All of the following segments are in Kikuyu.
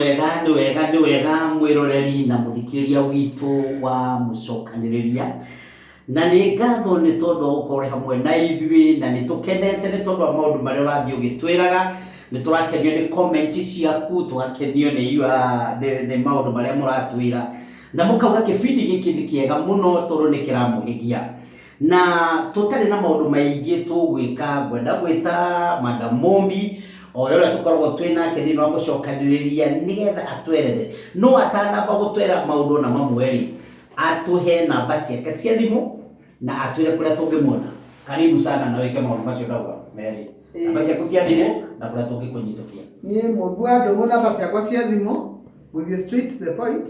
wega nĩ wega nĩ wega mwĩroreri na mũthikĩrĩria witũ wa mũcokanĩrĩria na nĩ ngatho nĩ tondũ wa gũkorwo ũrĩ hamwe na ithuĩ na nĩ tũkenete nĩ tondũ wa maũndũ marĩa ũrathiĩ ũgĩtwĩraga nĩ tũrakenio nĩ comment ciaku tũgakenio nĩ your- nĩ- nĩ maũndũ marĩa mũratwĩra na mũkauga kĩbindi gĩkĩ nĩ kĩega mũno tondũ nĩ kĩramũhĩgia Na tũtarĩ na maũndũ maingĩ tũgwĩka, ngwenda gwĩta Madam Mũmbi, oe ũrĩa tũkoragwo twĩ nake thĩinĩ wa mũcokanĩrĩria nĩgetha atwerethere. No atanamba gũtwera maũndũ ona mamwe rĩ, atũhe namba ciake cia thimũ na atwĩre kũrĩa tũngĩmuona. Karibu sana na wĩke maũndũ macio ndauga merĩ. Namba ciaku cia thimũ na kũrĩa tũngĩkũnyitũkia. Niĩ Mũmbi wa Ndũng'ũ namba ciakwa cia thimũ, gũthiĩ straight to the point,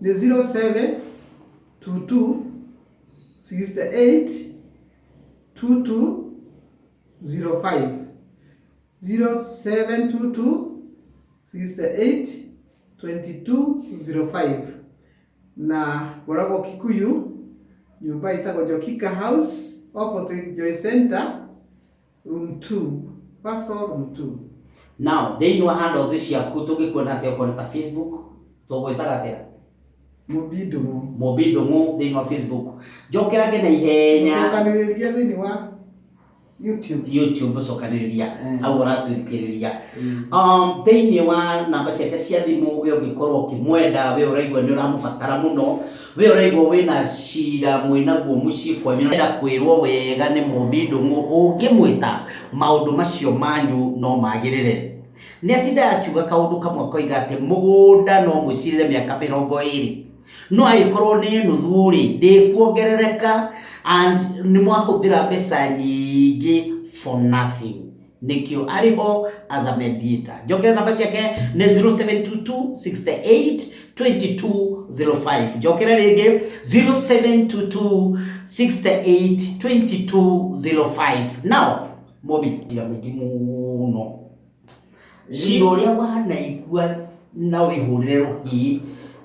nĩ 0722. 0722682205 na ngoragwo Kikuyu nyũmba ĩtagwo Njokika House opposite Joy Center Room 2. First floor, room 2. Now, thĩinĩ wa handles ciaku tũngĩkuona atĩa okorwo nĩ ta Facebook tũgwĩtaga atĩa? Mũmbi ndũng'ũ. Mũmbi ndũng'ũ thĩinĩ wa Facebook. Njokera ngĩ na ihenya. Cokanĩrĩria thĩinĩ wa YouTube. YouTube cokanĩrĩria mm. au ũratwĩthikĩrĩria mm. um, thĩinĩ wa namba ciake cia thimũ we ũngĩkorwo ũkĩmwenda we ũraigua nĩ ũramũbatara mũno We ũraigua wĩna cira mwĩnaguo mũciĩ kwanyu na wenda kwĩrwo wega nĩ mũmbi ndũng'ũ ũngĩmwĩta, maũndũ macio manyu no magĩrĩre. Nĩatindaga akiuga kaũndũ kamwe akoiga atĩ mũgũnda no mũcirĩre mĩaka mĩrongo ĩrĩ, no agĩkorwo nĩ nuthu rĩ, ndĩkuongerereka and nĩmwahũthĩra mbeca nyingĩ for nothing. nĩkĩo arĩ ho as a mediator njokere namba ciake nĩ 0722682205 njokere rĩngĩ 0722682205 now mũmi tira mũingĩ mũno cira ũrĩa wanaigua na wĩhũrĩre rũhĩ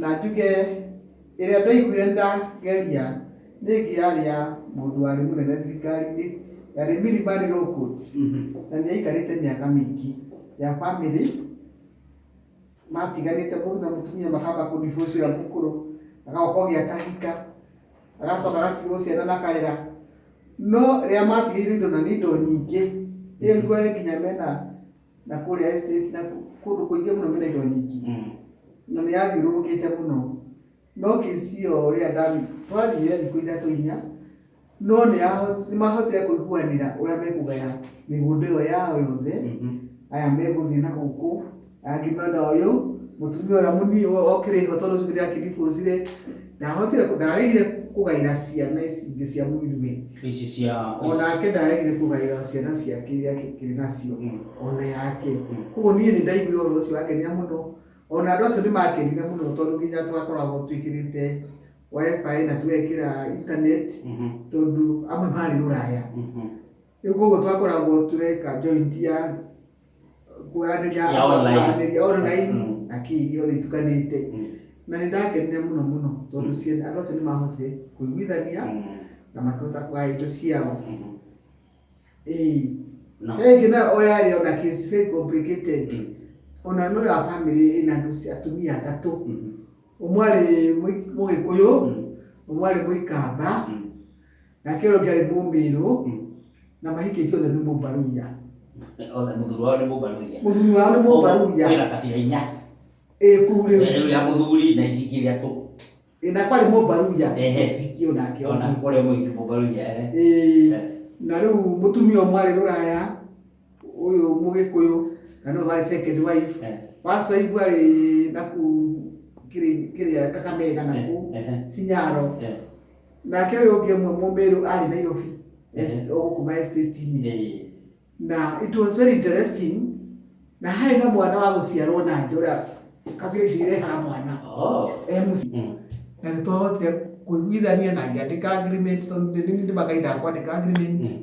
Na njuge, Ĩrĩa ndaiguire nĩndageria nĩ ĩngĩ yarĩ ya mũndũ warĩ mũnene thirikari-inĩ, yarĩ Milimani Law Court, na nĩaikarĩte mĩaka mĩingĩ ya bamĩrĩ matiganĩte mũndũ na mũtumia makamba kũ divorce ũrĩa mũkũrũ, agacoka ũngĩ akahika, agacoka agatigwo ciana na akarera, no rĩrĩa matigĩirwo indo na nĩ indo nyingĩ, rĩu nginya mena... na kũrĩa estate na kũ- kũndũ kũingĩ mũno mena indo nyingĩ Mm. na nĩ yathiũrũrũkĩte mũno no kĩcio rĩrĩa ndami twathiire thikũ ithatũ inya no nĩ yaho- nĩ mahotire kũiguanĩra ũrĩa mekũgaya mĩgũnda ĩyo yao yothe Mhm. aya megũthiĩ na gũkũ angĩ mwena ũyũ mũtumia ũrĩa mũnini okĩrĩho tondũ ũcio ũngĩ ndakĩribũcire ndahotire kũ- ndaregire kũgaĩra ciana ici ingĩ cia mũriwe ici cia o nake ndaregire kũgaĩra ciana ciake iria kĩrĩ nacio Mm. o na yake Mm. koguo niĩ nĩ ndaiguire ũhoro ũcio wangenia mũno o na andũ acio nĩ makenire mũno tondũ nginya twakoragwo twĩkĩrĩte wifi na tũgekĩra internet Mhm, tondũ amwe marĩ rũraya mhm. Rĩu koguo twakoragwo tũreka joint ya kwaranĩria Ya online. kwaranĩria online Mm. na kii yothe itukanĩte Mm. na nĩ ndakenire mũno mũno tondũ ciana andũ acio nĩ mahotire kũiguithania Mm. na makĩhota kũgaya indo ciao Mhm. ĩĩ No. he ĩngĩ nayo o yarĩ ona case very complicated ona no ya family ĩna andũ ci- atumia atatũ Mhm. Ũmwe arĩ Mũgĩkũyũ, ũmwe arĩ Mũikamba, nake ũrĩa ũngĩ arĩ Mũmĩrũ, na mahikĩtie othe nĩ Mũmbaruya. Othe mũthuri wao nĩ Mũmbaruya. Mũthuri wao nĩ Mũmbaruya. Kwĩna kabira inya. Ĩĩ kũu rĩu. Rĩu ya mũthuri na ici ingĩ ithatũ. Ĩĩ na kwarĩ Mũmbaruya. Ehe. Ũtiki o nake. Ona ũrĩa mũingĩ Mũmbaruya. Ĩĩ. Na rĩu mũtumia ũmwe arĩ Rũraya. ũyũ mũgĩkũyũ na nĩwe warĩ second wife Eh. wacoigua rĩ na kũ kĩrĩ- kĩrĩa kakamega na kũ Eh, eh. cinyaro Eh. nake ũyũ ũngĩ ũmwe mũmĩrũ arĩ nairobi Eh. gũkuma estate-inĩ Eh. na it was very interesting na harĩ na mwana wa gũciarwo na nja ũrĩa kabira icio irehaga mwana Oh. e mũciĩ Mm. na nĩ twahotire kũiguithania na ngĩandĩka agreement tondũ nĩ nĩ ndĩmakaindaga kwandĩka agreement Mm.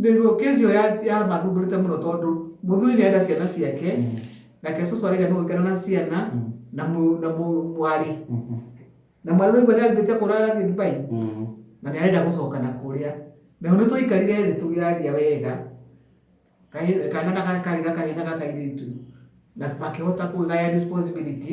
Nĩguo kesi ĩyo ya- yamathumbũrĩte mũno tondũ mũthuri nĩenda ciana ciake nake cũcũ araiga nĩ gũikara na ciana na mũ- na mũ- mwarĩ na mwarĩ ũraigua nĩambĩte kũra athiĩ dubai na nĩ arenda gũcoka na kũrĩa nayo nĩ twaikarire thĩ tũgĩaria wega Kahĩ- kana na gaka karĩ gakahĩ na gakairĩtu na makĩhota kũgaya responsibility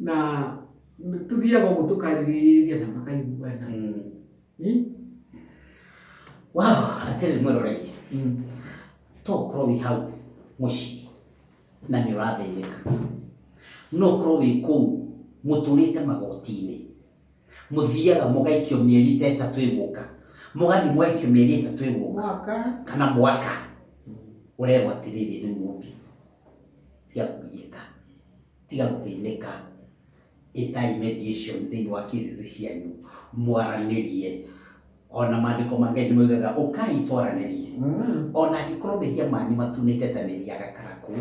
na tũthiaga ũguo tũkarĩrĩria na makaiguana Hmm? wao atĩrĩ mwĩroreri Hmm. to ũkorwo wĩ hau mũciĩ na nĩ ũrathĩnĩka no ũkorwo wĩ kũu mũtũrĩte magoti-inĩ mũthiaga mũgaikio mĩeri ta ĩtatũ ĩgũka mũgathiĩ mũgaikio mĩeri ĩtatũ ĩgũka mwaka kana mwaka ũrerwo atĩrĩrĩ nĩ mũmbi tiga kũgiĩka tiga gũthĩnĩka ĩtai mediation thĩinĩ wa cases cianyu mwaranĩrie ona maandĩko ma ngai nĩ moigaga ũkai twaranĩrie Mm. ona angĩkorwo mehia manyu matunĩte ta mĩri ya gakarakũ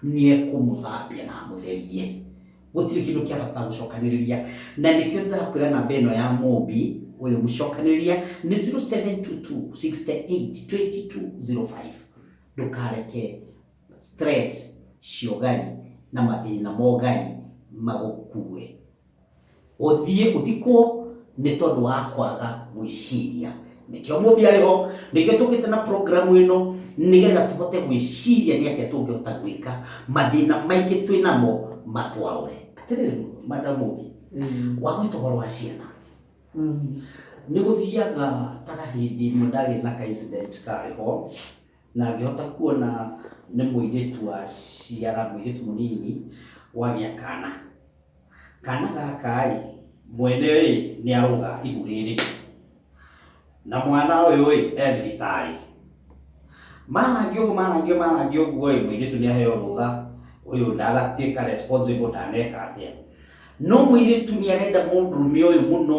nĩ ekũmũthambia na amũtherie gũtirĩ kĩndũ kĩa bata gũcokanĩrĩria na nĩkĩo ndĩrakwĩra namba ĩno ya mũmbi ũyũ mũcokanĩrĩria nĩ 0722 68 2205 ndũkareke stress cio ngai na mathĩna mo ngai magũkue ũthiĩ ũthikwo nĩ tondũ wa kwaga gwĩciria nĩkĩo mũthĩ arĩ ho nĩkĩo tũkĩte na programu ĩno nĩgetha tũhote gwĩciria nĩ atĩa tũngĩhota gwĩka mathĩna maingĩ twĩ namo matwaũre atĩrĩrĩ madamu ũngĩ wagwĩta ũhoro wa ciana nĩ gũthiaga ta hĩndĩ ĩmwe ndagĩe na ka incident karĩ ho Na ngĩhota kuona nĩ mũirĩtu waciara, mũirĩtu mũnini wagĩa kana. Kana gaka-ĩ, mwene-ĩ nĩarũga ihu rĩrĩ, na mwana ũyũ-ĩ e thibitarĩ. Marangia ũguo marangia marangia ũguo-ĩ, mũirĩtu nĩaheo rũtha, ũyũ ndagatuĩka responsible ndaneka atĩa. No mũirĩtu nĩarenda mũndũrũme ũyũ mũno,